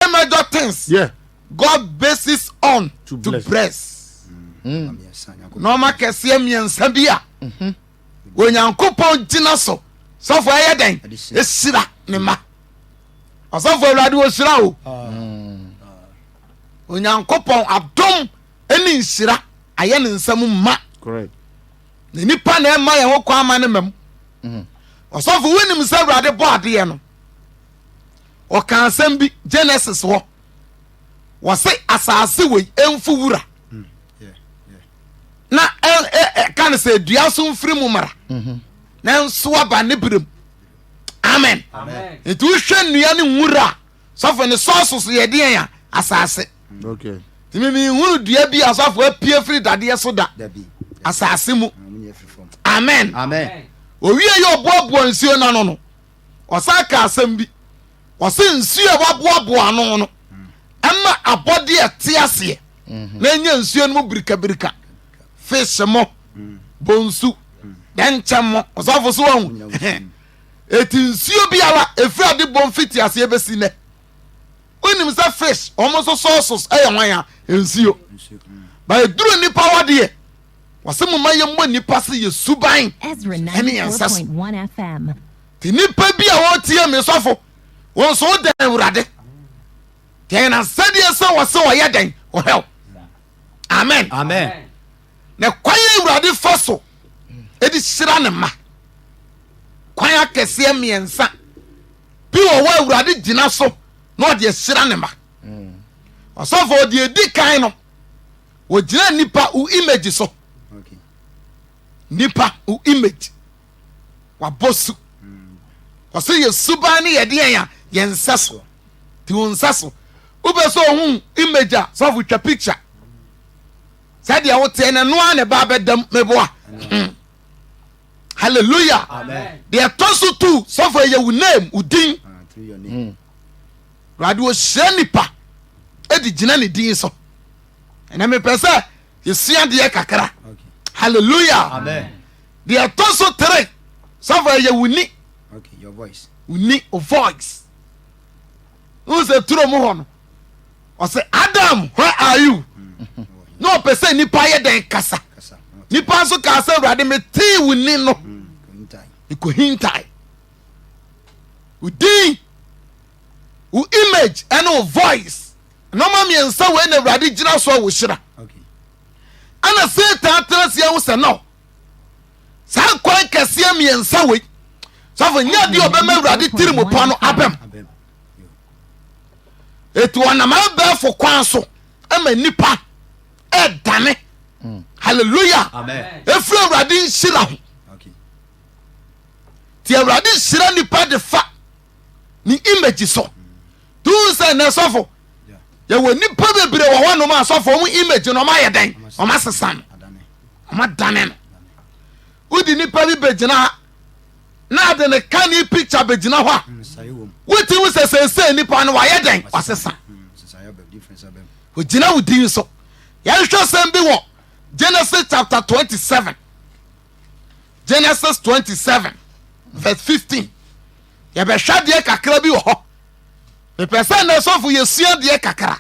Any major things Yeah. God bases on To to bless. bless. Nneɛma mmiɛnsa Nyankopɔn Nneɛma kɛseɛ mmiɛnsa bi a Onyankopɔn gyina so sɔfo ɛyɛ dɛn Ɛde hyira. ɛhyira ne ma. Ɔsɔfo Awurade ɔhyira o. Onyankopɔn adom ne nhyira ayɛ ne nsam ma. Correct. Na nipa na ɛma yɛn ho kwan ma ne mam. Ɔsɔfo wonim sɛ Awurade bɔ adeɛ no ɔka asɛm bi genesis hɔ wɔse asase wei ɛmfu wura mm, na ɛka no sɛ dua so mfiri mu mmara mm-hmm. na nso aba ne berɛm amen nti wohwɛ nnua ne nwura a sɔfo ne sɔɔso so yɛdeɛn a asase nti memehunu dua bi a sɔfo apue firi dadeɛ so da asase mu amen owie yɛ ɔboaboa nsuo no ano no ɔsan kaa asɛm bi. Ɔse nsuo a waboaboa ano no ɛma abɔdeɛ ɛte aseɛ mhm. na ɛnya nsuo no mu birikabirika fish mo mm. bonsu mm. dɛnkyɛm mo ɔsafo so wahu ɛti nsuo biara ɛfiri ade bɔ mfiti aseɛ bɛsi nɛ wonim sɛ fish wɔn nso sɔɔsos ɛyɛ hwan a nsuo mm. ba ɛduru nnipa wadeɛ Wɔse moma yɛmmɔ nnipa se yɛ suban ne yɛn nsa so. Te nnipa bi a wɔtie me sɔfo, wɔn so wo dɛn Awurade? Deɛ yɛn asɛdeɛ sɛ wɔse wɔyɛ dɛn ɔhɛw? Amen. Amen. Na kwan yɛ Awurade fa so ɛdi hyira ne ma. Kwan akɛseɛ mmiɛnsa bi wɔ hɔ Awurade gyina so na ɔde ahyira ne ma. Ɔsɔfo ɔde ɛdi kan no Wogyina nipa wo image so. Nipa wo image. Wabɔ su. Ɔsɛ hmm. yɛ suban ne yɛde yɛn a yɛn nsa so. Ti wo nsa so. Wobɛ sɛ ohun image a sɔfo twa picture. Sɛdeɛ woteɛ no ɛno a na ɛba abɛdam meboa. Hmm. Hallelujah. Deɛ ɛtɔ so tu sɔfo ɛyɛ wo name wo din. Ah, hmm. Awurade ɔhyira nnipa ɛde gyina ne din so ɛnɛ mepɛ sɛ yɛsua deɛ kakra halleluya deɛ ɛtɔ so tere sɔfo ɛyɛ wo ni wo ni o voice wohu sɛ turo mu hɔ no ɔsɛ adam where are you mm. na ɔpɛ sɛ nnipa yɛ dɛn kasa nnipa nso kaa sɛ awurade metee wo ni no mm, ɛkɔhintae wo din wo image ɛne wo voice nneɛma mmiɛnsa wei na awurade gyina so a wɔhyira ɛna satan tena seɛ ho sɛ no saa kwan kɛseɛ mmiɛnsa wei sɔfo nyɛ deɛ ɔbɛma awurade tiri mu pɔ no abɛm ɛti ɔnam abɛɛfo kwan so ma nnipa ɛdane mm. halleluya ɛfiri awurade nhyira ho nti awurade hyira nipa de fa ne image so tun sɛ na sɔfo yɛwɔ nipa bebree wɔ hɔnom a sɔfo ɔmo image no ɔmo ayɛ dɛn ɔmo asesa no ɔmo adane no wodi nipa bi begyina ha na ade ne ka ne picture begyina hɔ a mm, woti wo sɛ sɛnsɛn nipa no wayɛ dɛn wasesa mm, ogyina wo din so yɛhwɛ sɛm bi wɔ genesis chapter twenty seven. Genesis 27 vs 15 yɛbɛhwɛ deɛ kakra bi wɔ hɔ mepɛ sɛ nnɛ sɔfo yɛsua deɛ kakra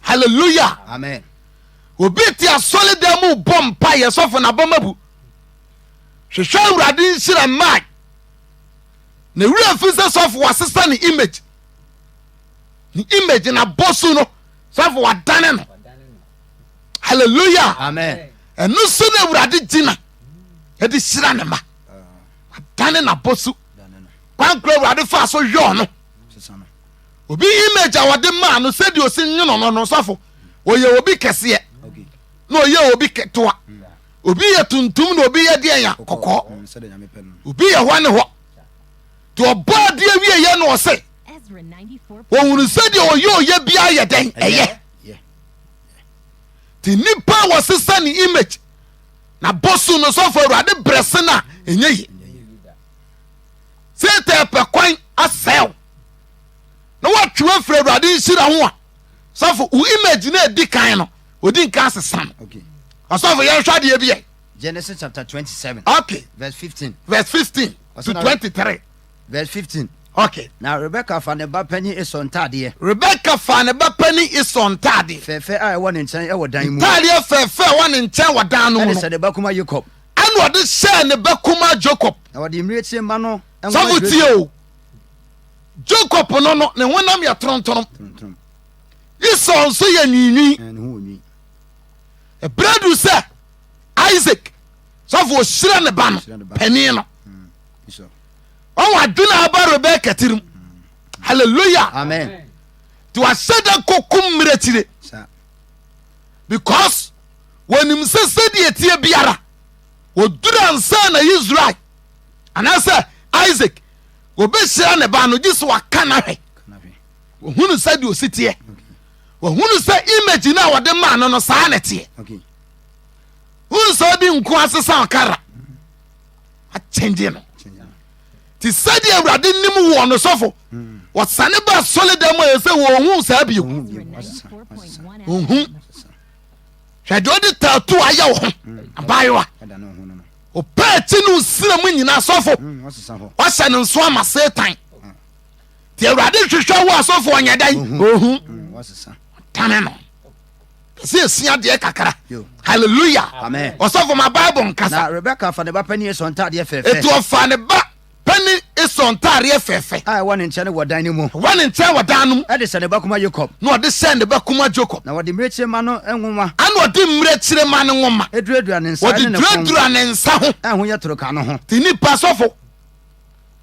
halleluya amen obi te asɔredan mu bɔ mpa yɛ sɔfo na bɔma bu hwehwɛ awurade nhyira mmae na wura fi sɛ sɔfo wasesa ne image ne image na bɔ su no sɔfo wadane no halleluya amen ɛno so na awurade gyina ɛde hyira ne ma adane n'abɔ so kwan kora awurade faa so yɔɔ no obi image a wɔde maa no sɛdeɛ ɔsi nwono no no sɔfo ɔyɛ obi kɛseɛ na ɔyɛ obi ketewa obi yɛ tuntum na obi yɛ deɛ ya kɔkɔɔ obi yɛ hɔ ne hɔ nti ɔbɔ adeɛ wieɛ na ɔse ɔhunu sɛdeɛ ɔyɛ ɔyɛ biara yɛ dɛn ɛyɛ nti nnipa a wɔsesa ne image Na bosu no sɔfo awurade brɛ se no a ɛnyɛ ye. Satan pɛ kwan asɛe na watwe afiri awurade nhyira ho a sɔfo wo image na ɛdi kan no ɔdi nka asesa no. Okay. Ɔsɔfo yɛn hwɛ adeɛ bi ɛ. Genesis chapter twenty seven. Okay. Verse fifteen. Verse fifteen to twenty three. Verse 15, Ok, na Rebeka fa ne ba panin Esau ntadeɛ. Rebeka fa ne ba panin Esau ntadeɛ. Fɛɛfɛ a ɛwɔ ne nkyɛn wɔ dan mu. Ntadeɛ fɛɛfɛ a ɛwɔ ne nkyɛn wɔ dan no mu no. Ɛde hyɛ ne ba kumaa Yakob. Ɛna ɔde hyɛɛ ne ba kumaa Jacob. Na ɔde mmirekyie mma no. Sɔfo tie o. Jacob no no ne honam yɛ torontoromm. Torontoromm. Esau nso yɛ nwiinwii. Ɛn, ne ho wɔ nwi. Ɛberɛ duru sɛ Isaac sɔfo ɔhyira ne ba no Ɔhyira ne ba. panin no. Esau. ɔwɔ ade na aba rebɛyɛ kɛtere mu hallelujah amen nti wasɛ dɛ kɔkum mmerɛ tire because wɔnim sɛ sɛdeɛ ɛteɛ biara wɔduru ansa na israel anaasɛ isaac wɔbɛhyira ne ba no gye sɛ waka no ahwɛ wɔhunu sɛ deɛ ɔsi teɛ wɔhunu sɛ image no a wɔde maa no no saa na ɛteɛ hunu sɛ ɔde nko asesa ɔkara akyɛngye no nti sɛdeɛ awurade nim woɔ no sɔfo wɔsane ba asɔledam a ɛsɛ wɔhu saa bio ɔhu hwɛ deɛ ɔde tato ayɛ wo ho abaayewa ɔpɛ akyi no nsira mu nyina asɔfo wahyɛ no nso ama satan nti awurade hwehwɛ wo asɔfo ɔnyɛ dɛn ɔhu tane no sɛ ɛsi adeɛ kakra halleluya ɔsɔfo ma bible nkasa rebeka fa ne ba pani esɔ ntaadeɛ fɛfɛ ɛti ɔfa ne ba pani esɔ ntaadeɛ fɛfɛ a ɛwɔ ne nkyɛn wɔ dan no mu wɔ ne nkyɛn wɔ dan no mu ɛde sɛ ne ba kuma jacob na ɔde sɛ ne ba kuma jacob na wɔde mmirekyire ma no nwoma ɛna ɔde mmirekyire ma no nwoma ɛduradura ne nsa wɔde duradura ne nsa ho ɛho yɛ toroka no ho ti nipa sɔfo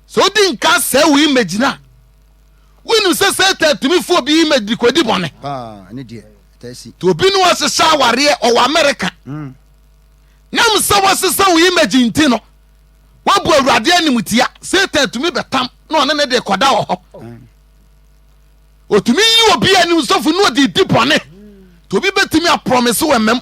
sɛ odi nka sɛ wo image na Wonim sɛ Satan tumi fa obi ma de kodi bɔne. Nti obi ne wɔhyehyɛ awareɛ ɔwɔ Amerika. Hmm. Nam sɛ wɔsesa wo image nti no, woabu Awurade animtia. Satan tumi bɛtam na ɔne ne de kɔda wɔ hɔ. Hmm. Otumi yi obi anim sɔfo na ɔde di bɔne. Nti obi bɛtumi aprɔmese wɔ mmam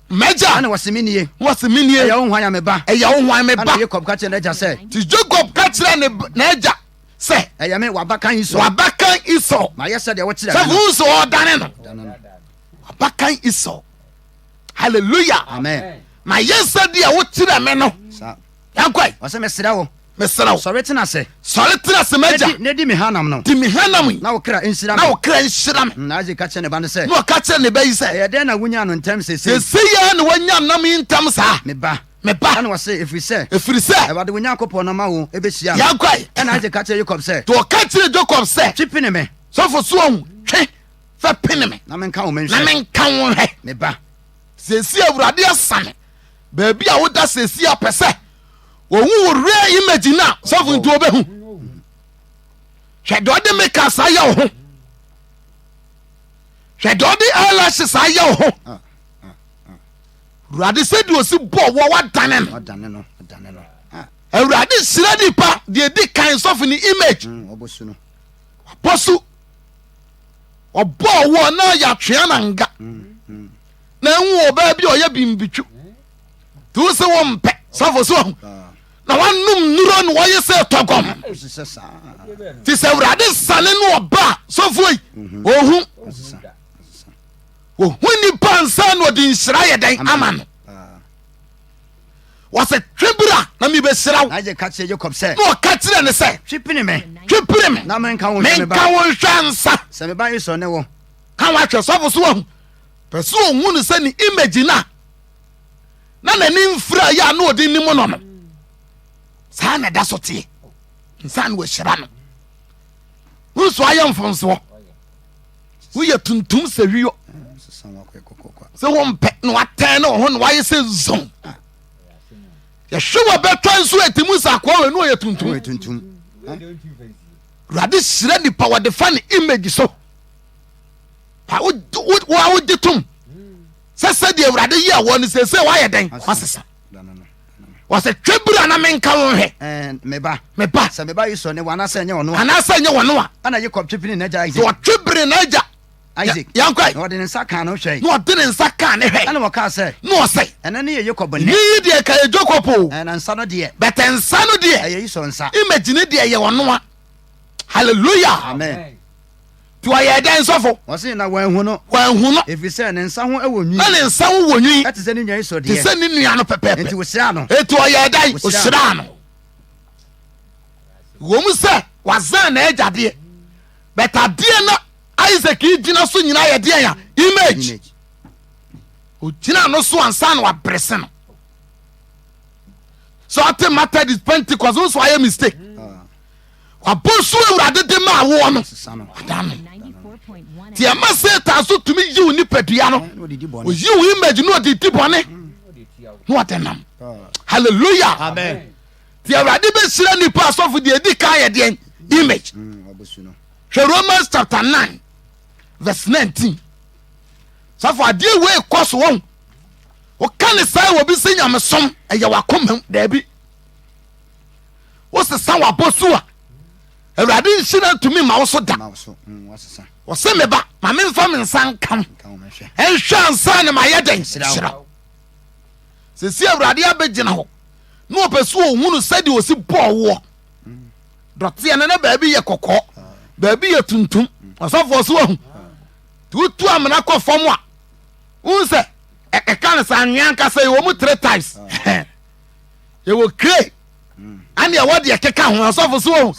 M'agya. Ɛna wɔsi mi nie. Wɔsi mi nie. Ɛyɛ wo hwan a me ba. Ɛyɛ wo hwan me ba. Ɛna Jacob ka kyerɛ n'agya sɛ. Ti Jacob ka kyerɛ ne n'agya sɛ. Ɛyɛ me w'abakan Esau. W'abakan Esau. Ma yɛ sɛ deɛ wɔkyerɛ. Sɛ wɔn nso ɔdane no. W'abakan Esau. Hallelujah. Amen. Ma yɛ sɛ deɛ wɔkyerɛ me no. Yankwa yi. Ɔsɛ mesrɛ wo. Mesrɛ wo. Sɔre tena se. Sɔre tena se m'agya. Na di me hanam no. Di me hanam yi. Na wo kra nhyira me. Na wo kra nhyira me. Na Isaac ka kyerɛ ne ba no sɛ. Na ɔka kyerɛ ne ba yi sɛ. Ɛyɛ dɛn na wonyaa no ntɛm sese yi. Sese yi ara na wanya nam yi ntɛm saa. Me ba. Me ba. Ɛna ɔse efiri sɛ. Efiri sɛ. Awurade wo Nyankopɔn no ama wo ebehyia. Yankwa yi. Ɛna Isaac ka kyerɛ Jacob sɛ. To ɔka kyerɛ Jacob sɛ. Twi pene me. Sɔfo so ɔn twi fɛ pene me. Na menka wo menhwɛ. Na menka wo nhwɛ. Me ba. Sese awurade asane. Baabi a woda sɛsi a pɛ sɛ wɔhu wo real image no a sɔfo nti wɔbɛhu. Hwɛ deɛ ɔde makeup saa yɛ wo ho. Hwɛ deɛ ɔde eyelash saa yɛ wo ho. Ah, ah, ah. Awurade sɛ deɛ ɔsi bɔ wɔ wadane no. Awurade hyira nipa deɛ ɛdi kan sɔfo ne image. Mm, Ɔbɔ so. Ɔbɔ wɔ na yɛatwea na nga. Mm, mm. na ehu wɔ ɔbaa bi a ɔyɛ bimbitwo nti wo se wo mpɛ safo so ahu na wanom nnuro na wɔyɛ sɛ tɔgɔm nti sɛ awurade sane no ɔba a sɔfoɔ yi ɔhu ɔhu nnipa nsa na ɔde nhyira yɛ dɛn ama no wɔsɛ twe bira na mebɛhyira wo na ɔka kyerɛ ne sɛ twe pere me menka wo nhwɛ nsa ka wahwɛ sɔfo so ahu Pɛ sɛ ɔhu no sɛ ne image no a na n'ani mfira yɛ a na ɔde nim no no saa na ɛda so teɛ nsa na wɔahyira no wuru so ayɛ mfonsoɔ woyɛ tuntum sɛ wiyɔ sɛ wompɛ na watɛn ne ɔho na wayɛ sɛ zon yɛhwe wɔ bɛtwa nso ɛti mu sɛ akoa wɔ ɛnu ɔyɛ tuntum awurade hyira nipa wɔde fa ne image so wo a wogye tom sɛ sɛdeɛ awurade yi a wɔ no seesei woayɛ dɛn wasesa wɔsɛ twɛ biri a na menka wo nhwɛ meba meba sɛ meba yi sɔ ne wɔ anaasɛ nyɛ wɔno a anaasɛ nyɛ wɔno a ana yɛkɔb twe biri n'agya isaac wɔtwe biri n'agya isaac yankɔ na ɔde ne nsa kaa no hwɛ na ɔde ne nsa kaa ne hwɛ ɛna wɔkaa sɛ na ɔsɛ ɛna ne yɛ yakob ne yi deɛ ka yɛ jacob o ɛna nsa no deɛ bɛtɛ nsa no deɛ ɛyɛ yi sɔ nsa imagine deɛ yɛ wɔno a hallelujah amen Nti ɔyɛɛ dɛn sɔfo? Wɔse na wɔanhu no. Wɔanhu no. Efisɛ ne nsa ho wɔ nwi. Na ne nsa ho wɔ nwi. Te sɛ ne nua Esau deɛ. Te sɛ ne nua no pɛpɛɛpɛ. Enti wɔhyiraa no. Enti ɔyɛɛ dɛn? Wɔhyiraa no. Wɔm sɛ wazan n'agya deɛ. But adeɛ na Isaac gyina so nyinaa yɛ deɛ ya image. Ogyina no so ansa na wabrese no. Sɛ ɔte Methodist Pentecost nso ayɛ mistake. wabonso awurade de maa woɔ no ada no nti ɛma satan so tumi yiw nipadua no oyiw image na ɔde di bɔne na ɔde nam hallelujah nti awurade bɛhyira nnipa asɔfo deɛ ɛdi kan yɛ deɛ image hwɛ romans chapter 9 verse 19 sɔfo adeɛ wei kɔ so wɔn woka ne saa wɔ bi sɛ nyamesom ɛyɛ wakoma daabi wosesa w'abɔso a awurade nhyira ntumi ma wo so da mm, wɔse me ba ma memfa me nsa nka wo ɛnhwɛ ansa ne mayɛ dɛn hyira wo sɛsi awurade abɛgyina hɔ na ɔpɛ so ɔhunu sɛdeɛ ɔsi bɔɔ woɔ mm. dɔteɛ no na baabi yɛ kɔkɔɔ ah. baabi yɛ tuntum mm. ɔsɔfoɔ so ahu ah. nti wotu amena kɔ fam a wohu sɛ ɛka no sɛ anwea nkasa yi wɔ mu tre times ah. yɛwɔ kire hmm. ɛne ɛwɔ deɛ keka ho asɔfo so o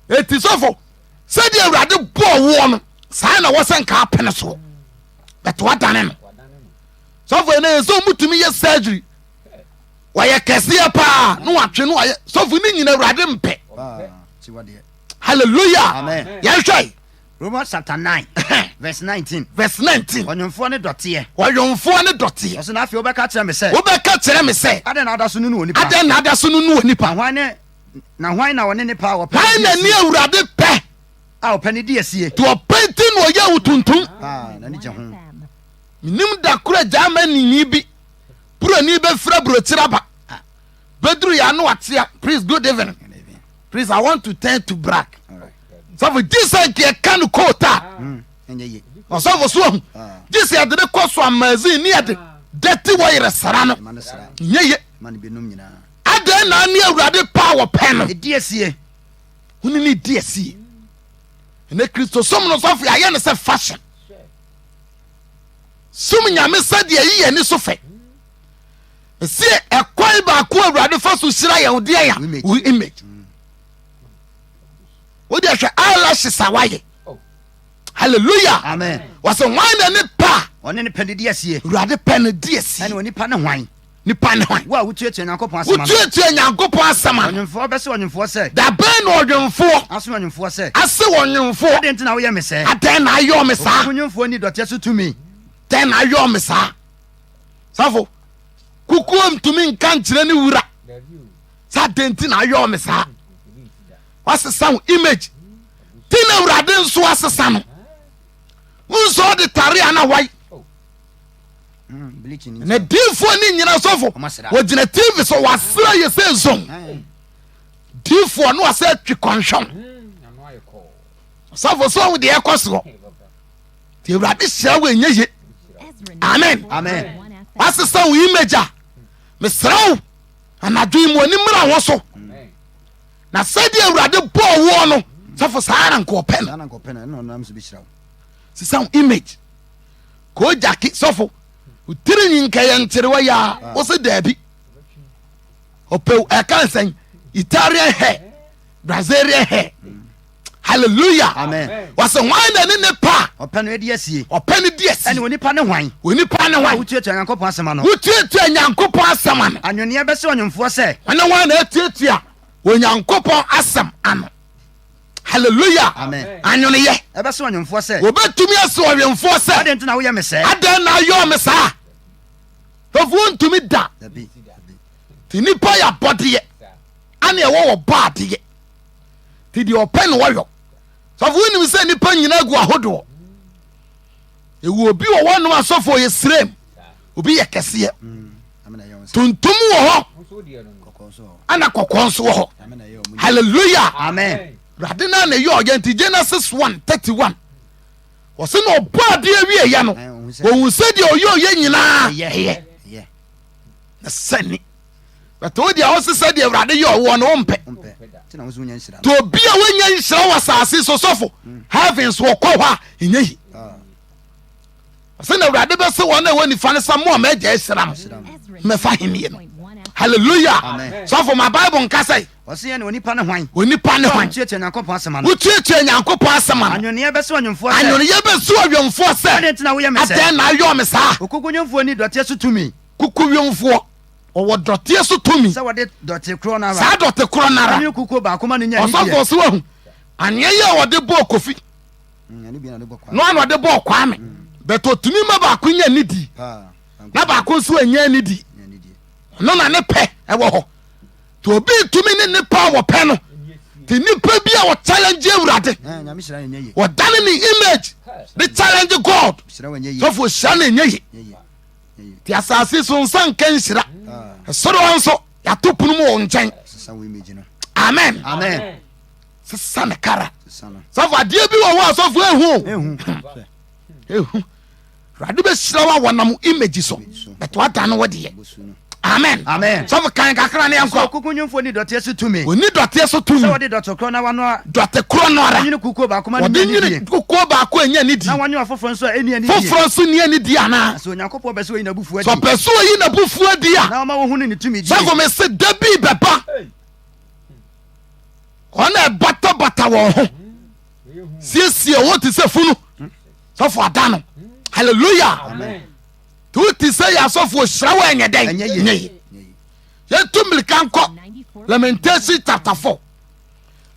ɛti sɔfo sɛdeɛ awurade bɔɔ woɔ no saa na wɔsɛ nka apene soɔ bɛte wadane no sɔfo ɛnɛ yɛ sɛ ɔmutumi yɛ surgery wɔyɛ kɛseɛ paa na watwe no ayɛ sɔfo ne nyina awurade mpɛ halleluya yɛhwɛ Romans chapter nine verse nineteen. Verse nineteen. Ɔnwomfoɔ ne dɔteɛ. Ɔnwomfoɔ ne dɔteɛ. Ɔsɛ na afei wobɛka kyerɛ me sɛ. Wobɛka kyerɛ me sɛ. Adɛn na ada so nunu onipa. Adɛn na ada so nunu onipa. Na hwan ne na hwan na ɔne ne pɛ a ɔpɛ. Hwan na ne awurade pɛ. A ɔpɛ ne di asie. To ɔpɛ nti na ɔyɛ wo tuntum. Paa na ne gye ho. Menim da koro agya ama nini bi. Buroni bɛfira burokyerɛ aba. Bedru ya no atia. Please good evening. Please I want to turn to black. Sɔfo Jesus nka ɛka no coat a. Ɔsɔfo so ahu. Jesus yɛde ne kɔ so amazin ne yɛde dɛte wɔ yerɛ sara no. Nyɛ ye. Adɛn na ne awurade paa wɔ pɛ no. Ɛdi asie. Huni ne di asie. Ɛnɛ kristosom no sɔfo yɛayɛ no sɛ fashion. Sum nyame sɛdeɛ yi yɛ ani so fɛ. Ɛsɛ ɛkwan baako awurade fa so hyira yɛn deɛ ya wo image wode hwɛ eyelashes a wayɛ hallelujah amen wɔsɛ hwan na ne pa ɔne ne pɛ ne di asie awurade pɛ ne di asie ɛne onipa ne hwan nipa ne hwan wo a wotuatua nyankopɔn asɛm wotuatua nyankopɔn asɛm a ɔnwomfoɔ bɛsɛ ɔnwomfoɔ sɛ dabɛn na ɔnwomfoɔ aso ɔnwomfoɔ sɛ ase ɔnwomfoɔ adɛn nti na woyɛ me sɛ adɛn na ayɔ me saa ɔnwomfoɔ ni dɔteɛ so tumi dɛn na ayɔ me saa sɔfo kukuo ntumi nka nkyerɛ ne wura sɛ adɛn nti na ayɔɔ me saa wasesa ho image ti na awurade nso asesa no wonsɛ ɔde tare a na wae na diifoɔ ne nyina sɔfo wɔgyina tv sɛ wasera yɛ sɛ zon diifoɔ no asɛ twe kɔnhwɛw sɔfo sɛ ɔho deɛ ɛkɔ soɔ nti awurade hyira wo ɛnyɛ ye amen wasesa wo image a mesrɛ wo anadwo yi mu ani mmra hɔ so na sɛdeɛ awurade bɔɔ woɔ no sɛfo saa na nkɔɔpɛ no sesa wo image kɔɔ gyake sɔfo wotiri nyi nka yɛ nterewa yɛ a wo se daabi ɔpɛw ɛka nsɛn italian hair brazilian hair hallelujah amen wɔsɛ hwan na ne ne pa ɔpɛ no adi asie ɔpɛ no di asi ɛne onipa ne hwan onipa ne hwan wotuatua nyankopɔn asɛm ano wotuatua nyankopɔn asɛm ano anwenneɛ bɛsɛ ɔnwomfoɔ sɛ ɛne hwan na atuatua onyankopɔn asɛm ano hallelujah amen anweneyɛ ɛbɛsɛ ɔnwomfoɔ sɛ wɔbɛtumi ase ɔnwomfoɔ sɛ adɛn nti na woyɛ me sɛ adɛn na ayɔ me saa ɛfoɔ ntumi da nti nnipa yɛ abɔdeɛ ane ɛwɔ wɔ bɔ adeɛ nti deɛ ɔpɛ na wɔyɔ sɔfo wonim sɛ nnipa nyinaa gu ahodoɔ ɛwɔ obi wɔ hɔ nom asɔfo yɛ srɛm obi yɛ kɛseɛ tuntum wɔ hɔ ana kɔkɔɔ nso wɔ hɔ hallelujah amen awurade no na ɛyɛ ɔyɛ nti genesis 1 31 wɔse na ɔbɔ adeɛ awieɛ no wɔhu sɛ deɛ ɔyɛ ɔyɛ nyinaa na sɛne bɛtɛ wo deɛ ɔse sɛ deɛ awurade yɛ ɔwoɔ no wompɛ nti obi a wonya nhyira wɔ asase so sɔfo mm. heavens wɔkɔ hɔ a ɛnya yi ɔsɛ na awurade bɛse wɔn a ɛwɔ nifa no sɛ mo a maagya ahyira mo mɛfa henneɛ no hallelujah sɔfo ma bible nka sɛ ɔseyɛ ne onipa ne hwan onipa ne hwan wotuatua nyankopɔn asɛm ano wotuatua nyankopɔn asɛm ano anwoneyɛ bɛsɛ ɔnwomfoɔ sɛ anwoneyɛ bɛsɛ ɔnwomfoɔ sɛ adɛn nti na woyɛ me sɛ adɛn na ayɔ me saa okokodwomfoɔ ni dɔteɛ so tumi Kukuwemfoɔ, ɔwɔ dɔteɛ so tumi. Sɛ wɔde dɔte korɔ no ara. Saa dɔte korɔ no ara. Ɛne kukuo baako ma no nya anigyeɛ. Ɔsɔfoɔ so ahu. Aneɛ yi a wɔde bɔɔ Kofi. Mm, no ano ɔde bɔɔ Kwame. Mm. But ɔtumi ma baako nya anidie. Na baako nso anya anidie. Ɔno na ne pɛ ɛwɔ hɔ. Nti obi tumi ne nipa a wɔpɛ no. Nti nipa bi a ɔchallenge awurade. Ɔdane ne image. Ne challenge God. Sɔfoɔ hyira no ɛnyɛ ye. nti asase so nsa nka nhyira ɛsoro hɔ nso yɛato pono mu wɔ nkyɛn amen sesa ne kara sɔfo adeɛ bi wɔ hɔ a sɔfo ehu ehu awurade bɛhyira wo a wɔnam image so bɛto ada no wɔ deɛ Amen. Amen. Sɔfo kan kakra ne yankɔ. Kuku nyimfo ni dɔteɛ so tumi. Oni dɔteɛ so tumi. Sɛ wɔde dɔte korɔ na wanoa. Dɔte korɔ no ara. Wɔnyini kukuo baako ma ne nyɛ nidie. Wɔde nyini kukuo baako a ɛnyɛ nidie. Na wɔnyɛ ɔfoforɔ nso a ɛni anidie. Foforɔ nso ni anidie anaa. Na sɛ Onyankopɔn pɛ sɛ oyi n'abufuo adi. Sɛ ɔpɛ sɛ oyi n'abufuo adi a. Na ɔma wɔhu ne ne tumi die. Sɔfo me se da bi bɛba. Wɔn a ɛbatabata wɔn ho. Siesie wɔn te sɛ funu. Sɔfo ada no. Hallelujah. Amen. to te sɛ yɛ asɔfoɔ hyira wɔ ɛnyɛ dɛn nyɛ yi yɛtu mmirika nkɔ lamentation chapter 4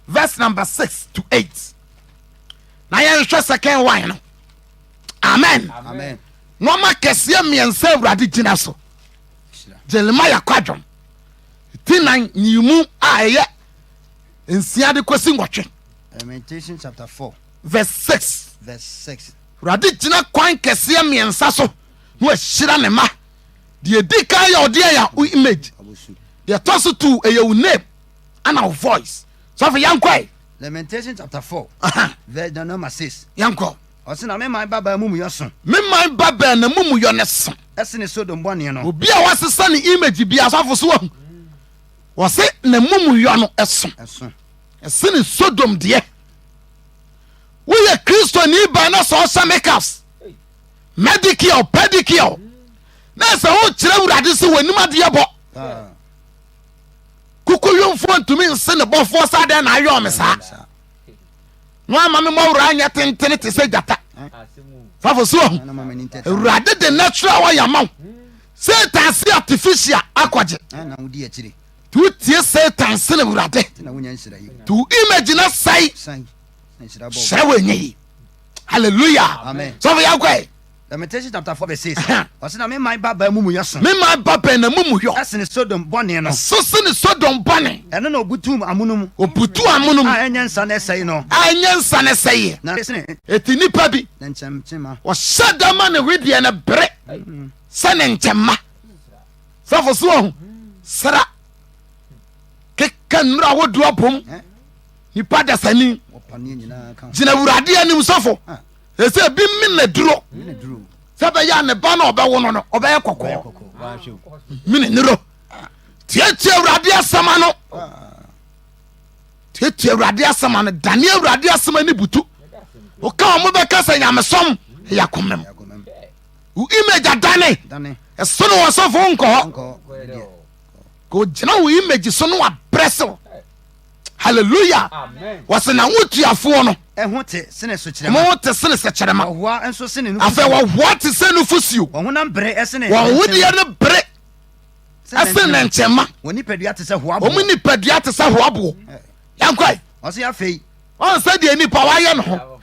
verse number 6 to 8 na yɛnhwɛ second one no amen nɔɔma kɛseɛ mmiɛnsa awurade gyina so jeremia kwadwom ti nan nyimu a ɛyɛ nsia de kɔsi nwɔtwe verse 6 verse 6 Awurade gyina kwan kɛseɛ mmiɛnsa so na wahyira ne mma. Deɛ ɛdi kan yɛ ɔdeɛ yɛ wo image. Deɛ ɛtɔ so two ɛyɛ wo name ana wo voice. Sɔfo yɛnkɔe. Lamentation chapter four verse na number six. Yɛnkɔ. Ɔsi na me man babaa mumuyɔ so. Me man babaa na mumuyɔ ne so. Ɛsene Sodom bɔne no. Obi a wasesa ne image bi asɔfo so wahu. Wɔsi na mumuyɔ no ɛso. Ɛsene Sodom deɛ. woyɛ kristoni baa na sɛ ɔhyɛ makeups medicare pedicare na sɛ wokyerɛ awurade sɛ w'anim adeɛ bɔ kokoyomfoɔ ntumi nse ne bɔfoɔ sɛ adɛn na ayɛ ɔme saa na wama me mmɔwerɛ anyɛ tentene te sɛ gyata fafo so ahu awurade de natural wɔyɛ ama wo satan se artificial akɔgye To wo tie satan sene awurade To wo image na sɛe hyerɛ wo ɛnyɛ yi hallelujah sɔfo yɛ akɔe Lamentation chapter four verse six. Ɔsɛ na mema ba bɛn mu mu yɛ so. Mema ba bɛn na mu mu yɔ. Ɛsene Sodom bɔne no. Ɛso sene Sodom bɔne. Ɛno na obutu amono mu. Obutu amono mu. A ɛnyɛ nsa na ɛsɛe no. A ɛnyɛ nsa na ɛsɛe. Na ɛsene. Eti nipa bi. Na nkyɛnkyɛnma. Ɔhyɛ dama ne wedeɛ no bere. Sɛ ne nkyɛnma. Sɛfo so ɔho sra keka nnura ahodoɔ abom nipa dasani gyina awurade anim sɔfo ɛsɛ ebi min na duro sɛ bɛyɛ a ne ba na ɔbɛwo no no ɔbɛyɛ kɔkɔɔ min nuro tiatia awurade asɛm ano tiatia awurade asɛm ano dane awurade asɛm ani butu woka wɔn bɛka sɛ nyamesom ɛyɛ akomam wo image adane ɛso no ɔsɔfo nkɔ hɔ ka ogyina wo image so no wabrɛ sew hallelujah wɔse na wo tuafoɔ no ɛho te sene sukyerɛma wɔn te sene sɛkyerɛma ɔhoa nso sene nufusuo afɛ wɔhoa te sɛ nufusuo wɔn honam bere ɛsene wɔn hodeɛ no bere ɛsene ne nkyɛnma wɔn nipadua te sɛ hoaboɔ wɔn nipadua te sɛ hoaboɔ yankwae ɔse afei Ɔn sɛ deɛ nipa wayɛ ne ho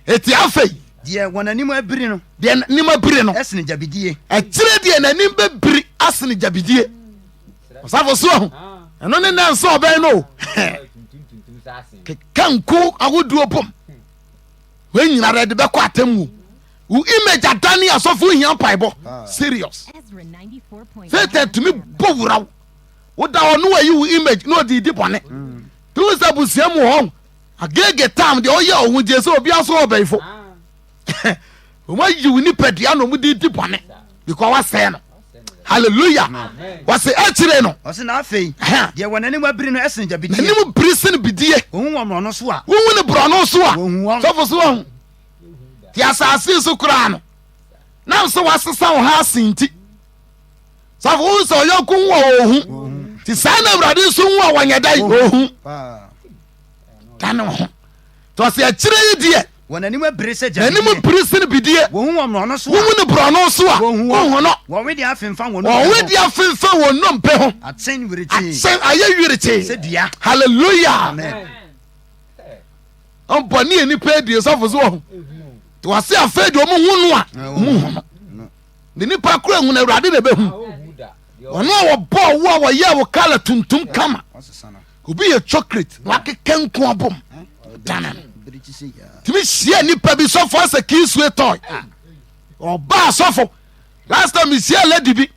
eti afei. Deɛ wɔn anim abiri no. Deɛ n'anim abiri no. Ɛsene gyabidie. Akyire deɛ n'anim bɛbiri asene gyabidie. Ɔsafo so ahu. Ɛno ne nna nsa ɔbɛn no o. Keka nku ahodoɔ bom. Wei nyina dɛ de bɛkɔ atemmuo. Wo image adane asɔfo hia mpaebɔ. Ah. Serious. Satan tumi bɔ wura wo. Woda hɔ no wayi wo image na ɔde di bɔne. Mm. Ehu sɛ abusua mu hɔ agege tam deɛ ɔyɛ ɔho gye sɛ obi aso ɔbɛyifo. Wɔn ayi wo nipadua na wɔn de di bɔne because wasɛe no. Hallelujah. Wɔsi akyire no. Wɔsi na afei. Deɛ wɔn anim abiri no ɛsen gya bidie. N'anim biri sen bidie. Ohun wɔn borɔno so a. Wohu ne borɔno so a. Wohu wɔn. Sɔfo so wɔn. Ti asase so koraa no. Nam so wasesa wɔn ha asen ti. safo hu sɛ ɔyɔnko hu a ɔhu nti saa na awurade nso hu a wɔnyɛ dɛn ɔhu da ne ho nti ɔsɛ akyirɛ yi deɛ wɔn anim bere sɛ gya anim bere sɛ bidie wɔhu wɔn borɔno so a wɔhu ne borɔno so a wɔhu no wɔwe deɛ afemfa wɔn wɔwe deɛ afemfa wɔn nnompe ho akyɛn wirekye akyɛn ayɛ wirekye sɛ dua hallelujah ɔbɔ ne yɛ nipa adie sɔfo so wɔho nti wɔse afei deɛ ɔmo hu no a ɔmo hu no Ne nipa koro ehunu awurade na ebehu ɔno a wɔbɔɔ wo a wɔyɛɛ wo kala tuntum kama obi yɛ chocolate na wakeka nko abom dana no tumi hyia nipa bi sɔfo asɛ kii sue tɔe ɔbaa sɔfo last time mehyia lady bi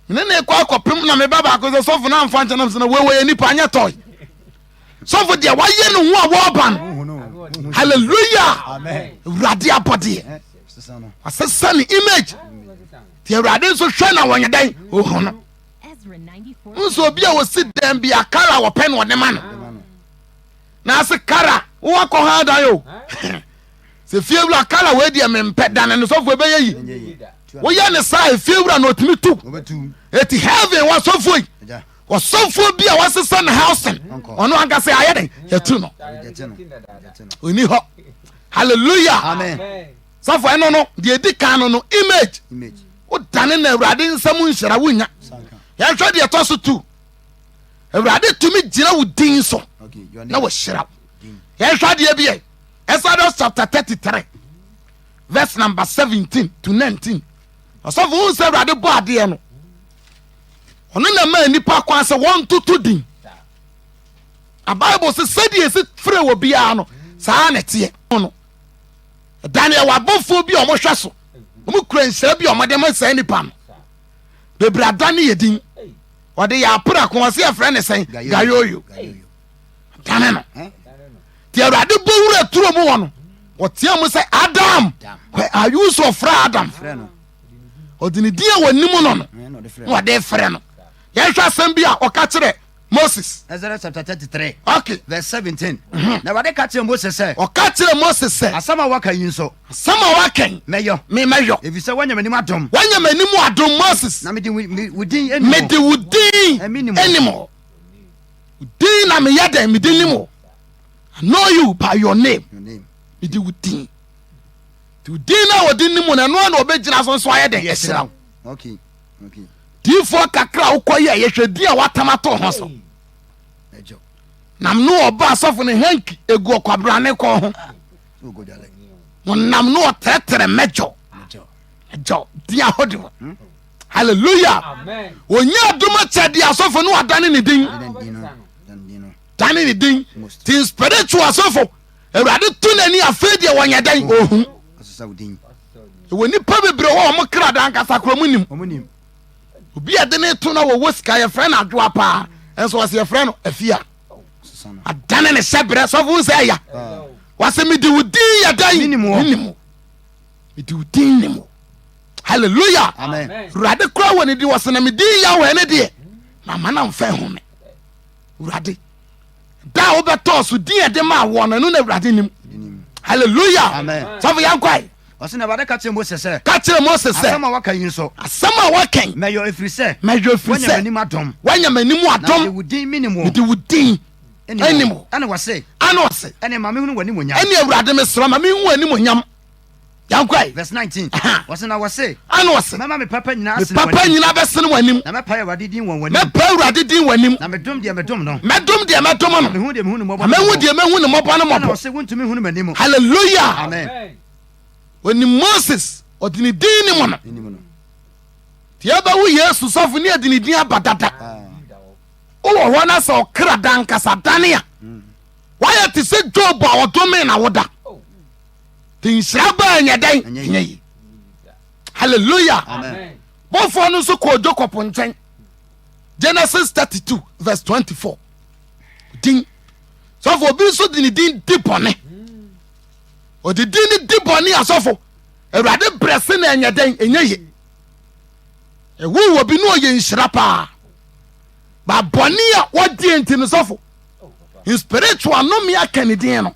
mene ne kɔ akɔpem na meba baako sɛ sɔfo no amfa nkyɛnam sɛ na wɔwɔ yɛ nipa anyɛ tɔe sɔfo deɛ wayɛ ne ho a wɔreba no hallelujah awurade abɔdeɛ wasesa ne image deɛ awurade nso hwɛ na wɔnyɛ dɛn ohu no nso obi a wɔsi dɛn bi a kara wɔpɛ no ɔde ma no na ase kara wowakɔ ha dan o sɛ fie wura kara wei deɛ mempɛ dane no sɔfo ɛbɛyɛ yi woyɛ ne saa efie wura na ɔtumi tu ɛti heaven wasɔfo yi ɔsɔfoɔ bi a wasesa ne housing ɔno ankasa ayɛ dɛn yɛtu no ɔni hɔ halleluya sɔfo ɛno no deɛ ɛdi kan no no image wodane na awurade nsɛm nhyira wonya yɛnhwɛ deɛ ɛtɔ so tu awurade tumi gyina wo din so na wɔhyira wo yɛnhwɛ deɛ biɛ exodus chapter 33 verse number 17 to 19 ɔsɔfo wo sɛ awurade bɔ adeɛ no ɔno na ɛmaa nnipa kwan sɛ wɔntoto din na bible sɛ sɛdeɛ ɛsi frɛ wɔ biara no saa na ɛteɛ no ɛda no ɛwɔ abɔfoɔ bi a wɔhwɛ so wɔn kura nhyira bi a wɔde ma saa nipa no bebree ada ne yɛ din wɔde yɛ apra ko wɔsi ɛfrɛ ne sɛn gayoyo dane no deɛ awurade bɔ wura turo mu wɔ no wɔteɛ mu sɛ adam where are you so frɛ adam. Frɛ no. ɔde ne din a wɔnim no no na ɔde frɛ no yɛnhwɛ asɛm bi a ɔka kyerɛ moses Ezra chapter thirty three okay verse seventeen mhm. na awurade ka kyerɛ moses sɛ ɔka kyerɛ moses sɛ asɛm a waka yi nso asɛm a waka yi mɛyɔ me mɛyɔ efisɛ wanya m'anim adom wanya m'anim adom moses na mede wo din anim mede wo din anim wo din na meyɛ dɛn mede nim o I know you by your name mede wo din Nti din no a wɔde nim no, ɛno ara na wɔbɛgyina so nso ayɛ dɛn ahyira wo. Okay. Okay. Diifoɔ kakra a wokɔ yɛ yɛhwɛ din a wɔatam ato ho so. Ɛgyo. Nam no ɔba asɔfo no hanky egu ɔkwabrane kɔn ho. Ogodale. Wɔnam no ɔtrɛtrɛ mɛgyo. Ɛgyo. Ɛgyo. Din ahode hɔ. Hmm? Hallelujah. Amen. Wɔnyɛ adom akyɛ de asɔfo no adane ne din. Dane ne din. Dane ne din. Ti spiritual asɔfo. Awurade to n'ani afei deɛ wɔnyɛ dɛn ɔhu. Ɛwɔ nnipa bebree hɔ wɔn kra da ankasa kora wɔn nim. Obi a ɛde ne to na wɔwɔ sika yɛfrɛ no adwoa paa nso wɔsi yɛfrɛ no afia. Adane ne hyɛ brɛ sɔfo nsɛ ɛya. Wɔsi mi di wo din yɛ dɛn? Nim wo. Mi di wo din nim wo. Hallelujah. Awurade kora wɔ ne din wɔsi na mi din yɛ wɔ ɛne deɛ. Mama na nfa ehu mi. awurade da a wobɛtɔɔ so din ɛde maa wɔn no ɛno na awurade nim halleluya sɔfo yɛnkwae ɔsɛ na awurade ka kyerɛ mose sɛ ka kyerɛ mose sɛ asɛm a waka yi nso asɛm a waka yi mɛyɔ ɛfiri sɛ mɛyɔ ɛfiri sɛ m'anim adom wanya m'anim adom mede wo din menim wo mede wo din ɛnim wo ɛne wɔse ɛne ɔse ɛne ma mehunu w'anim onyam ɛne awurade mesrɛ ma mehu w'anim onyam Yɛnkɔe, verse 19. Aha. Wɔse na wɔse. Ana ɔse. Mɛma me papa nyinaa asene wɔn anim. Me papa nyinaa bɛsene wɔn anim. Na mɛpae Awurade din wɔ wɔn anim. Mɛpae Awurade din wɔ anim. Na medom deɛ medom no. Mɛdom deɛ mɛdom no. Na mehu deɛ mehu ne mmɔbɔ no mmɔbɔ. Na mehu deɛ mehu ne mmɔbɔ no mmɔbɔ. Ana ɔse wontumi hunu m'anim. Hallelujah. Amen. Onim Moses, ɔde ne din ne mu no. Anim no. Deɛ bɛwo Yesu sɔfo ne ɛde ne din aba dada. Ah. Wowɔ hɔ na sɛ ɔkra da nkasa dane a. Mm. Wayɛ te sɛ Job a ɔdome na woda. nhyira baa nyɛ dɛn nyɛ yi hallelujah bɔfoɔ no nso kɔɔ jacob nkyɛn genesis 32 verse 24 din sɔfo obi nso de ne din di bɔne ɔde din ne di bɔne asɔfo awurade brɛ se na ɛnyɛ dɛn ɛnyɛ ye ɛwo wɔ bi ne ɔyɛ nhyira paa ba bɔne a wɔdeɛ nti no sɔfo spiritual nome aka ne din no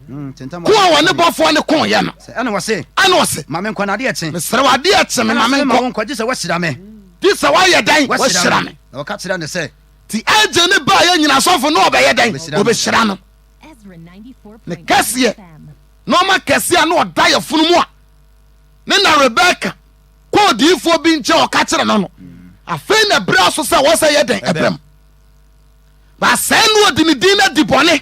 Ko a wɔne bɔfoɔ no koeɛ no, ɛna ɔse, mesrɛ wo adeɛ kye me ma menkɔ, gye sɛ woahyira me. Gye sɛ woayɛ dɛn? Woahyira me. Na wɔka kyerɛ no sɛ. Nti agye ne baeɛ nyina asɔfo no ɔbɛyɛ dɛn? Ɔbɛhyira no. Ne kɛseɛ, nɔɔma kɛseɛ a na ɔda yɛ funu mu a ne na Rebeka kɔ odiyifoɔ bi nkyɛn ɔka kyerɛ no no, afei na ɛberɛ so sɛ wɔsɛ yɛ dɛn ɛbɛm. Baasɛe no ɔde ne din no adi bɔne.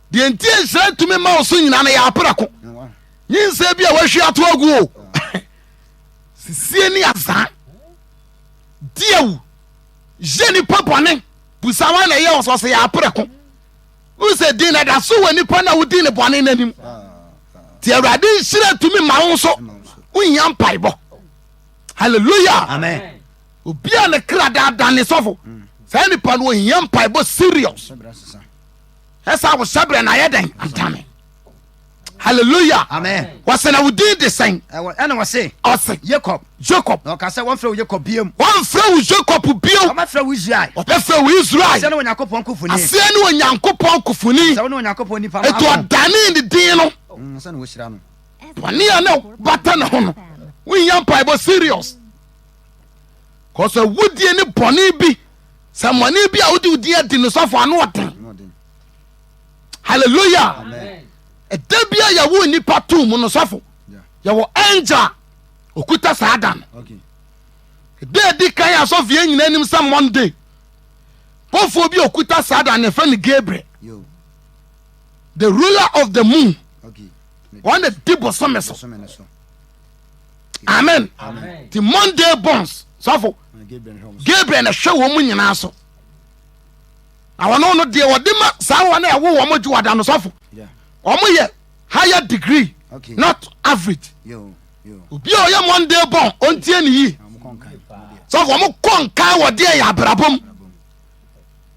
Deɛ nti a nhyira ntumi ma wo so nyinaa no yɛ aprɛko. Nyinsɛ bi a wahwie ato agu o. Sisie ne azaa. Di awu. Yɛ nipa bɔne. Busa wɔn na ɛyɛ wɔn sɛ ɔsɛ yɛ aprɛko. Wohu sɛ din na da so wɔ nipa na wodi ne bɔne n'anim. Ti Awurade nhyira tumi ma wo nso. Wohia mpaebɔ. Hallelujah. Amen. Obi a ne kra daadaa ne sɔfo. Saa nipa no ohia mpaebɔ serious. ɛsa wo hyɛbrɛ na ayɛ dɛn adane hallelujah amen wɔsɛ na wo din de sɛn ɛwɔ ɛna wɔse ɔse yakob jacob na ɔka sɛ wɔmfrɛ wo yakob biam wɔmfrɛ wo jacob bio wɔbɛfrɛ wo israel wɔbɛfrɛ wo israel sɛ ne onyankopɔn kofoni aseɛ ne onyankopɔn kofoni sɛ wo ne onyankopɔn nipa ɛti maako ɔdane ne din no Mm, sɛ na wɔhyira no bɔne a na bata ne ho no wonya mpaebɔ serious kɔsɛ wodie ne bɔne bi sɛ mmɔne bi a wode wo din adi no sɔfo ano ɔden halleluya ɛda bia yɛwo nnipa to mu no sɔfo yɛwɔ angel okuta saa da no ɛda ɛdi kan yɛ asɔfie nyina anim sɛ monday bɔfoɔ bi okuta saa da no ɛfɛ no gabriel the ruler of the moon wɔn na di bosome so amen ti monday bonds sɔfo gabriel na hwɛ wɔn mu nyinaa so na wɔn no deɛ wɔde ma saa wɔn a ɛwɔ wɔn gye wɔda no sɔfo wɔn yɛ higher degree okay. not average obi a ɔyɛ monday bɔn ɔntie ne yi sɛ wɔn kɔ nka wɔ deɛ yɛ abrabɔ mu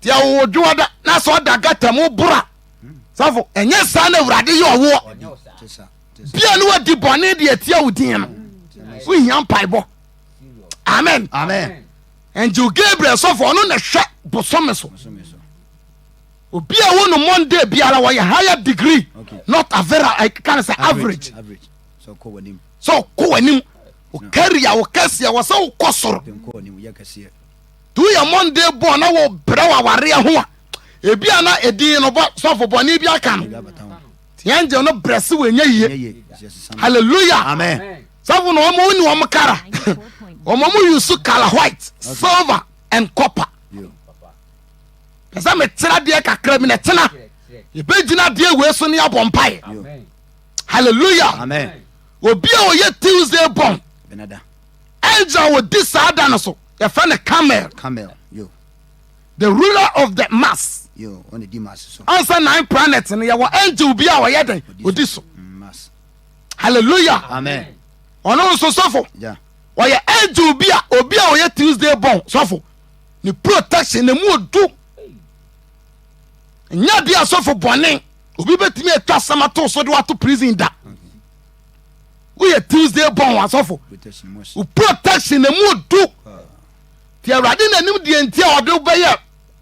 deɛ wɔwɔ dwoɔ da na sɛ ɔda gata mu bora sɛfo ɛnyɛ saa na awurade yɛ ɔwoɔ bia ne wadi bɔne de atia wo din no wohia mpaebɔ amen amen angel gabriel sɔfo ɔno na hwɛ bosome so obi a wo no monday biara wɔyɛ higher degree okay. not avera ɛka ne sɛ average sɛ ɔkɔ w'anim ɔkari a wɔkɛseɛ wɔ sɛ wokɔ soro nti woyɛ monday bɔɔ na wɔbrɛ wɔ awareɛ ho a ebi a na ɛdin no sɔfo bɔne bi aka no tiangye no brɛse wɔ ɛnyɛ yie hallelujah amen sɛfo na wɔn ni wɔn kara wɔn wɔn yusu kala white silver and copper pɛsɛ metena deɛ kakra bi na tena yɛbɛgyina deɛ wei so ne abɔ mpae hallelujah amen obi a ɔyɛ tuesday born angel wɔ di saa da no so yɛfɛ no camel camel The ruler of the mass. Ansa nine planet no yɛwɔ angel bi a ɔyɛ dɛn odi so. Hallelujah. Amen. Ɔno nso sɔfo. Ɔyɛ angel bi a obi a ɔyɛ Tuesday born sɔfo. Ne protection na mu odu. Nya bi a sɔfo bɔne obi betumi atwa asɛm ato so de wato prison da. Woyɛ Tuesday born asɔfo. Protection na mu odu. nti awurade na nim deɛ nti a ɔde wobɛyɛ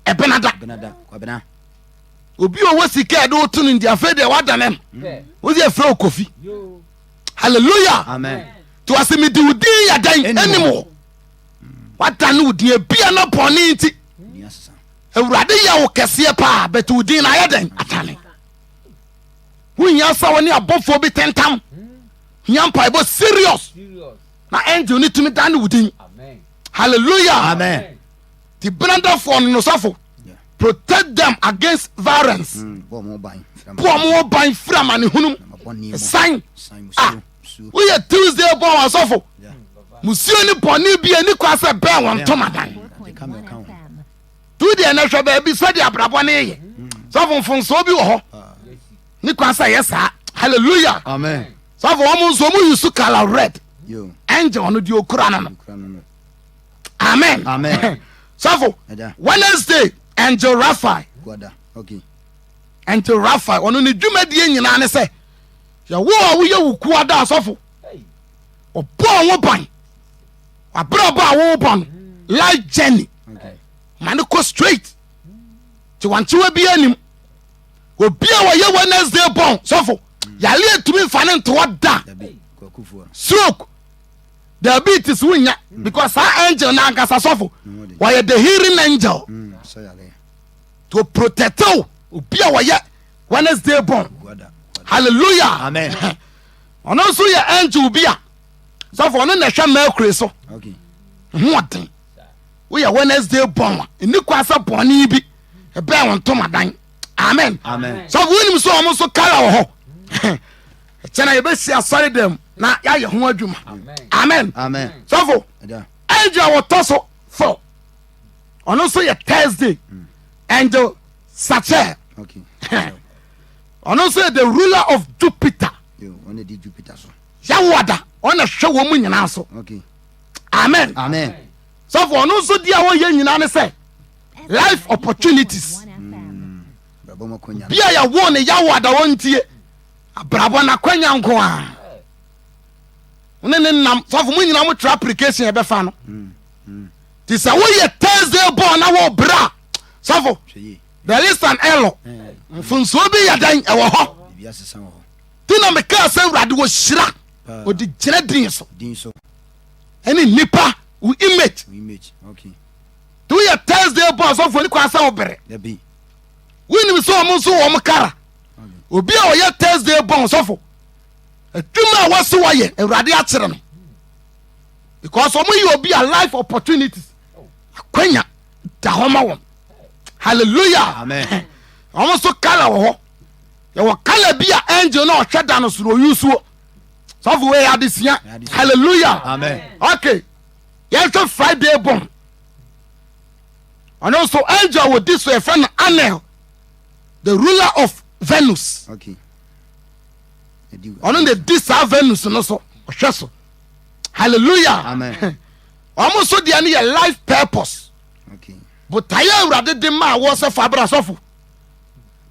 ɛbenada obi a ɔwɔ sika ɛde woto no nti afei deɛ wadane no mm. wode ɛfrɛ wo kofi halleluya nti wɔse mede wo din yɛ dɛn anim hɔ wadane wo din bia na bɔne nti awurade yɛ wo kɛseɛ paa bɛte wo din na ayɛ dɛn atane wohia sa wo ne abɔfoɔ bi tentam hia mpaebɔ serious na angel no tumi dane wo din hallelujah amen ti benadafoɔ no nosafo protect them against violence mm, bɔ ɔmo ho ban firi amanehunum san a woyɛ tuesday bɔ wɔn asɔfo musuo ne bɔne bi ani kwa sɛ bɛɛ wɔn ntomadan tu deɛ na hwɛ baabi sɛdeɛ abrabɔ no yɛ mm. sɔfo mfonsoɔ bi wɔ hɔ ah. ne kwa sɛ yɛ saa hallelujah amen sɔfo wɔn nso wɔn yi su kala red ɛnjɛ wɔn di okura no no amen sɔfo wednesday ɛnjɛ rafael ɛnjɛ rafael wɔn ne dwumadie nyinaa ne sɛ yɛwɔ a woyɛ wo kuwa da sɔfo ɔbɔ wɔn ban wabrabɔ a wɔwɔ bɔ no life journey ma ne kɔ straight ti wɔn ti wɔ bi anim obi a wɔyɛ wednesday bɔn sɔfo. yareɛ ntumi mfa ne ntoɔ da stroke diabetes wonya mm. because saa angel na ankasa sɔfo wɔyɛ the hearing angel mm, to protect wo obi a wɔyɛ wednesday born hallelujah amen ɔno nso yɛ angel bi a sɔfo ɔno na ɛhwɛ mercury so hoɔden woyɛ wednesday born a ɛni kwa sɛ bɔne bi ɛbɛn wo ntomadan amen sɛ wonim sɛ ɔmo so kala wɔ hɔ ɛkyɛ na yɛbɛsi asɔre dɛm na yɛayɛ ho adwuma amen sɔfo angel wɔtɔ so fo ɔno nso yɛ thursday mm. angel sachel ɔno nso yɛ the ruler of jupiter yɛwoa da ɔna hwɛ wɔ mu nyinaa so amen sɔfo ɔno nso di a wɔyɛ nyinaa ne sɛ life opportunities bia yɛwo no yawo adawɔ ntie abrabɔ no akwanya nko a ne ne nam sɔfo mo nyina motra application ɛbɛfa no nti sɛ woyɛ thursday bɔɔ na wɔbrɛ a sɔfo there is an error mfonsuo bi yɛ dɛn ɛwɔ hɔ nti na mekaa sɛ awurade wɔhyira ɔde gyina din so ɛne nnipa wo image Woyɛ Thursday bɔ asɔfo ni kwan sɛ wobere. Dabi. Wonim sɛ wɔn nso wɔn kara. Obi a ɔyɛ Thursday bɔ ɔsɔfo. Adwuma a wɔsi wɔyɛ Awurade akyerɛ no. Because wɔn yɛ obi a life opportunities akwanya da hɔ ma wɔn. Hallelujah. Amen. Wɔn nso kala wɔ hɔ. Yɛwɔ kala bi a angel na ɔhwɛ da no soro oyusuo. Sɔfo wei adesua. Hallelujah. Amen. Okay. yɛsɛ friday bom ɔno nso angel wɔ di so yɛfrɛ no anel the ruler of venus ɔno na di saa venus no so ɔhwɛ so hallelujah ɔmo nso deɛ no yɛ life purpose botaeɛ awurade de ma a wɔsɛ fa abra sɔfo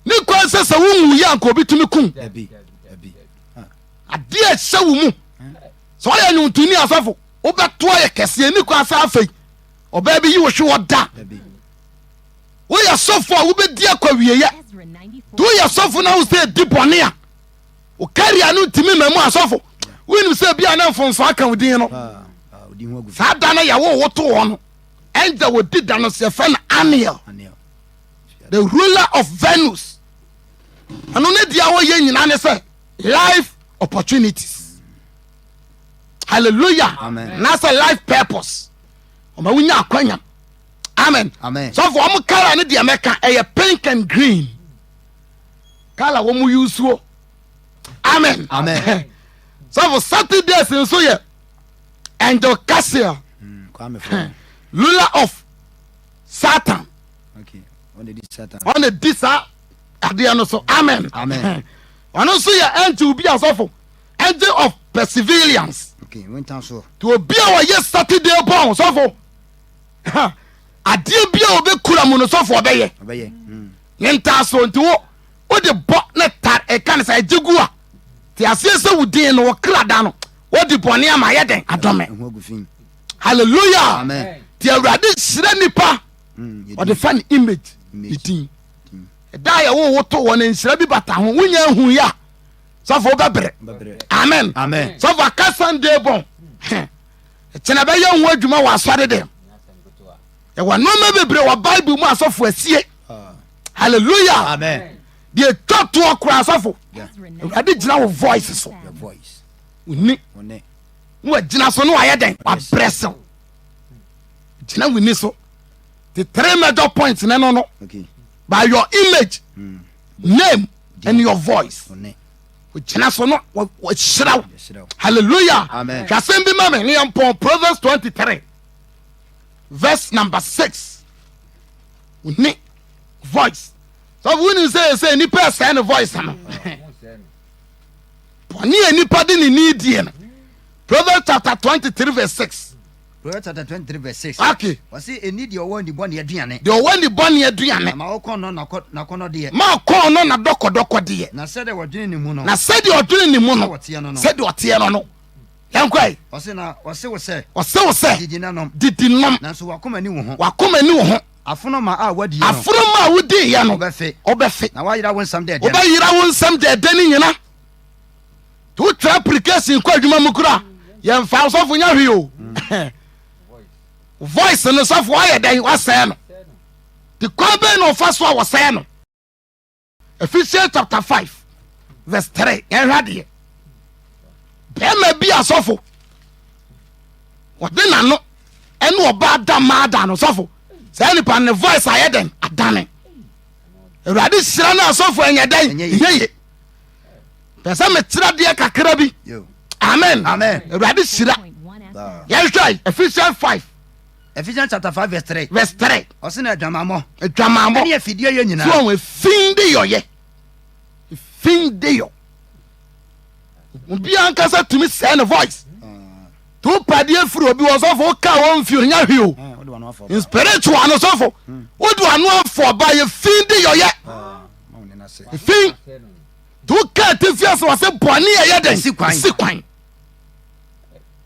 ne kwan sɛ sɛ wonwu yɛ anka obi tumi kum adeɛ ɛhyɛ wo mu sɛ ɔyɛ nwomtoni asɔfo Wobɛto ayɛ kɛse. Ɛnni kwan sɛ afei ɔbaa bi yi wo hwe hɔ da. Woyɛ sɔfo a wobɛdi akɔ wieɛ. Nti woyɛ sɔfo na wo sɛ ɛdi bɔne a, wo karia no ntumi ma mu asɔfo. Wonim sɛ bi a na mfomso aka wo din no. Saa da no yɛwo wo to hɔ no. Angel wɔdi da no so yɛfrɛ no Aniel, the ruler of Venus. Ɛno ne deɛ wɔyɛ nyinaa ne sɛ life opportunities. hallelujah nasɛ life purpose ɔma wonya akwanya amen sɔfo ɔmo kala no deɛ mɛka ɛyɛ pink and green kala wɔn mu yusuo amen sɔfo saturdays nso yɛ angel cassia hmm, lula of satan ɔna di saa adeɛ no so amen ɔno nso yɛ ɛnti obi asɔfo Angel of Perseverance. Okay, winter so. To obi a ɔyɛ Saturday bɔn sɔfo. Adeɛ bi a ɔbɛkura mu no sɔfo ɔbɛyɛ. Ɔbɛyɛ. Hmm. Ne ntaaso nti wo wode bɔ ne tar ɛka ne sɛ ɛgye gu a te aseɛ sɛ wo din no wɔkra da no wode bɔne ama yɛ dɛn adɔme. Hallelujah. Amen. Ti awurade hyerɛ nipa hmm, ɔde fa ne image ne din. Ɛda a yɛwo wo to wɔ ne nhyira bi bata ho wonya hu yɛ a sɔfo wobɛbrɛ amen sɔfo aka sunday bɔn ɛkyɛn ɛbɛyɛ ho adwuma wɔ asɔre dɛm ɛwɔ nneɛma bebree wɔ bible mu asɔfo asie ah. hallelujah deɛ ɛtwa toɔ kora asɔfo awurade gyina wo voice so woni na wagyina so ne wayɛ dɛn wabrɛ sew gyina woni so the three major points ne no no by your image mm. name in your voice gyina so no wɔhyira wo hallelujah hwɛ asɛm bi ma me ne yɛmpɔn proverbs 23 verse number 6 ne voice sɛ wonim sɛ ɛsɛ nnipa ɛsɛe ne voice no bɔne a nnipa de ne ni die no proverbs chapter 23 verse 6 Proverbs chapter twenty three verse six. Okay. Wɔsi eni deɛ ɔwɔ nibɔne aduane. Deɛ ɔwɔ nibɔne aduane. Na ma ɔkɔn no nakɔ nakɔnɔ deɛ. Ma ɔkɔn no na dɔkɔdɔkɔ deɛ. Na sɛdeɛ ɔdwene ne mu no. Na sɛdeɛ ɔdwene ne mu no. Sɛdeɛ ɔteɛ no no. Sɛdeɛ ɔteɛ no no. Yɛn kɔ yi. Ɔsi na ɔsi wo sɛ. Ɔsi wo sɛ. Didi na nom. Didi nom. Nanso wakoma ni wo ho. Wakoma ni wo ho. Afonoma a wadi yɛ no. Afonoma a wodi yɛ no. Ɔbɛfe. Ɔbɛfe. Na wayira wo nsɛm dɛɛdɛ. Ɔbɛyira wo nsɛm dɛɛdɛ ne nyina. to tra application kɔ adwuma mu kora yɛmfa sɔfo nya hwee o voice no sɔfo ayɛ dɛn wasɛe no te kwan bɛn na ɔfa so a wɔsɛe no Ephesians chapter five verse three yɛnhwɛ adeɛ bɛrima bi asɔfo wɔde n'ano ɛne ɔbaa da maa da no sɔfo saa nipa ne voice ayɛ dɛn adane awurade hyira no asɔfo ɛnyɛ dɛn ɛnyɛ ye pɛ sɛ mekyerɛ deɛ kakra bi amen awurade hyira yɛhwɛ ephesians 5 Ephesians chapter five verse three. verse three. ɔsi na adwamamɔ. adwamamɔ ɛni efidie yɛ nyinaa. so efin de yɔ yɛ efin de yɔ obi ankasa tumi sɛ ne voice ah. to padeɛ firi obi wɔ sɔfo ka wɔn fi onya hwi o ah, spiritual no sɔfo hmm. wodi ano afɔ ba yɛ fin de yɔ yɛ. Ah. fi nti woka atifi ase wɔ sɛ bɔne a ɛyɛ dɛn si kwan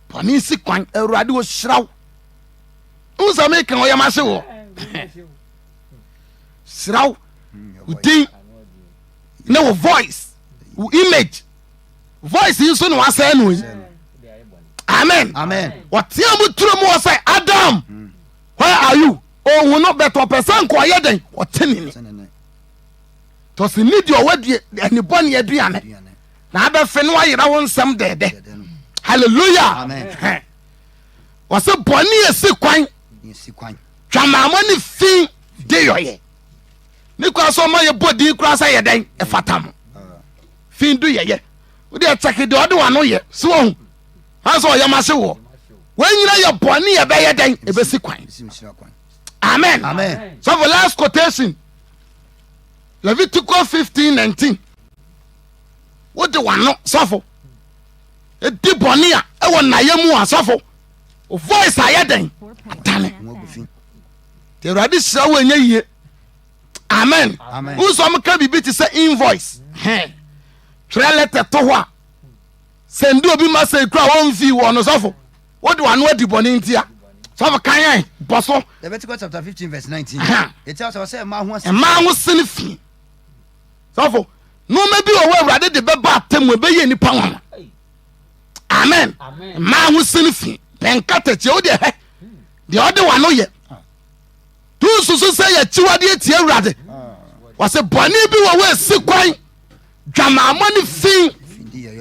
bɔne si kwan awurade wɔhyira wo wo sɛ meka ɔyɛ ma se wɔ hyira wo wo din ne wo voice wo image voice yi nso na wasɛe no yi amen wɔtea mu turo mu wɔ sɛ adam where are you ɔhu no bɛtɔ pɛ sɛ nkɔɔyɛ dɛn ɔtenene tɔse ne deɛ ɔwɔ deɛ anibɔne aduane na abɛfe no ayera wo nsɛm dɛɛdɛ halleluya wɔse bɔne ɛsi kwan twamaamɔ ne fi de yɔyɛ ne kora sɛ ɔma yɛbɔ din koraa sɛ yɛ dɛn ɛfata mo fi do yɛyɛ wode ɛkyɛke deɛ ɔde wano yɛ sɛ wahu ansɛ ɔyɛ ma se woɔ wɔnyina yɛ bɔne yɛbɛyɛ dɛn ɛbɛsi kwan amen sɔfo last quotation leviticus 15 19 wode wano sɔfo ɛdi bɔne a ɛwɔ nnayɛ mu a sɔfo o voice ayɛ dɛn atane nti awurade hyira wo ɛnyɛ yie amen wo sɛ ɔmka biribi te sɛ invoice twerɛ lɛtɛ to hɔ a sɛnde obi ma sɛ kura wɔmfii wɔ no sɔfo Wode w'ano adi bɔne nti a, sɔfo kan yɛn bɔ so. Leviticus chapter fifteen verse nineteen. Eti asɔ sɛ mmaa ho asini. Mmaa ho sini fi. Sɔfo, nneɛma bi wɔ hɔ awurade de bɛba atam ɛbɛyɛ nipa nwanwa. Amen. Mmaa ho sini fi. Pɛnkatakyia o deɛ hɛ. Deɛ ɔde w'ano yɛ. Tu nsusu sɛ yɛkyiwadeɛ tie awurade. Wɔsɛ bɔne bi wɔ hɔ esi kwan. Dwamaamɔ ne fi.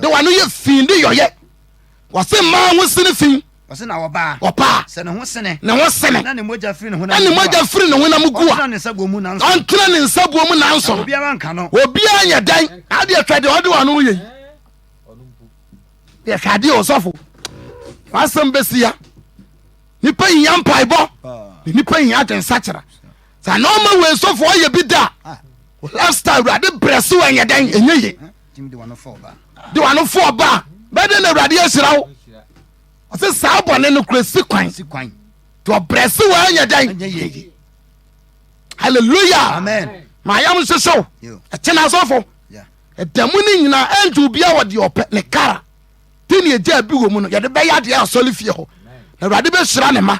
De w'ano yɛ fi de yɔyɛ. Wɔse mmaa ho sene fi. Wɔse na ɔbaa. Ɔbaa. Sɛ ne ho sene. Ne ho sene. Na ne mogya firi ne honam gu a. Ne mogya firi ne honam gu a. Ɔntena ne nsa buo mu nanso. Ɔntena ne nsa buo mu nanso. Na obiara nka no. Obiara nyɛ dɛn. Adeɛ twa deɛ ɔde wɔn ano yɛ yi. Deɛ hwɛ adeɛ ɔsɔfo. Wasɛm bɛsi ya. Nipa hia mpaebɔ. Nipa hia adwensakyera. Sɛ na ɔma wei sɔfo ɔyɛ bi da. Lifestyle awurade brɛ so ɛnyɛ dɛn ɛnyɛ yie. Jim de wano fɔɔ ba. De wano fɔɔ ba. Bɛde na awurade ahyira wo. Ɔsɛ saa bɔne no kura si kwan. Si kwan. Te ɔbrɛ se wɔ ɛnyɛ dɛn. Ɛnyɛ yie. Hallelujah. Amen. Ma yam nhyehyew. Ɛkyɛn asɔfo. Ɛda mu ne nyinaa ɛnti obia wɔ deɛ ɔpɛ ne kara. Te ne ɛgya bi wɔ mu no yɛde bɛyɛ adeɛ asɔre fie hɔ. Na awurade bɛhyira ne ma.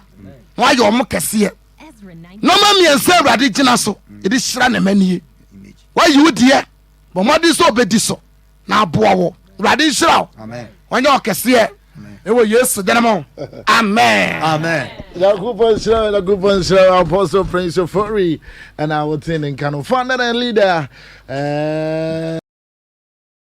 Na wayɛ ɔmo kɛseɛ. Nɔma mmiɛnsa awurade gyina so. Yɛde hyira ne ma nie. Wayi wo deɛ. bɔ mmɔden sɛ ɔbɛdi so na aboa wo awurade nhyira wo ɔnyɛ ɔkɛseɛ ɛwɔ yesu dene mu amen nyankopɔn nhyira wo nyankopɔn nhyira wo apostle prince ofori ɛna wotee ne nka no founder and leader uh...